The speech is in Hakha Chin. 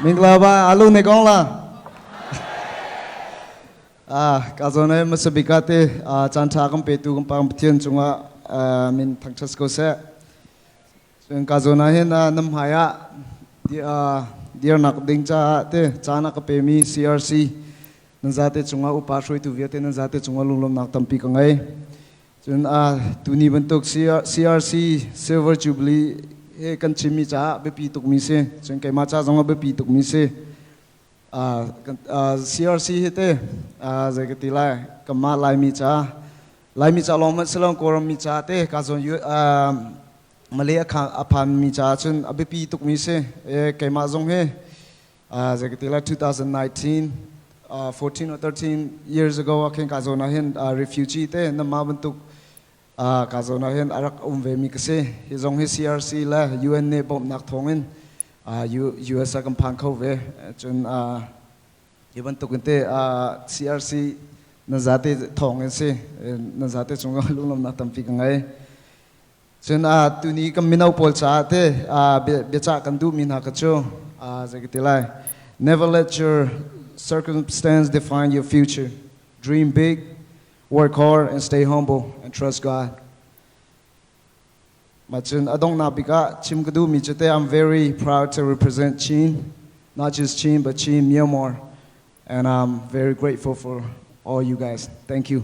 Minglava alu ne kong la ah ka zone masabika te chan tha kan petu kan pang pathian cungah min thangchas ko se cun ka zona hin nam hai ah dir nak ding cha te chana ka pe mi CRC nan za te chunga upa hruitu viate nan za te chunga lunglom nak tampi ka ngai Cun tuni bantuk CRC Silver Jubilee he kan chimmi caah biapi tukmi si. Cun keimah ca zong a biapi tukmi si. CRC hi te zei ka ti lai kanmah Laimi ca Laimi ca lawng hmanh si lo Kawlrammi ca te kaa zawn Malay a phanmi caah cun a biapi tukmi si. Keimah zong hi Uh, zekatila 2019 uh, 14 or 13 years ago akhin ka zona hin uh, refugee te nama bantuk uh, ka zona hin arak um ve mi ka si hi zong hi CRC le UN ne bom nak thong in uh, US a kan phang kho ve cun uh, hi bantuk in te uh, CRC na zate thong in si na zate chung lunglam nak tampi ka ngai Cun uh, tuni kan mino pawl caah te uh, bia, biacah kan duhmi hna ka cu uh, zei ka ti lai never let your circumstance define your future dream big work hard and stay humble and trust God ma cun adong na bik ah chim ka duhmi cu te I'm very proud to represent Chin not just Chin but Chin Myanmar and I'm very grateful for all you guys thank you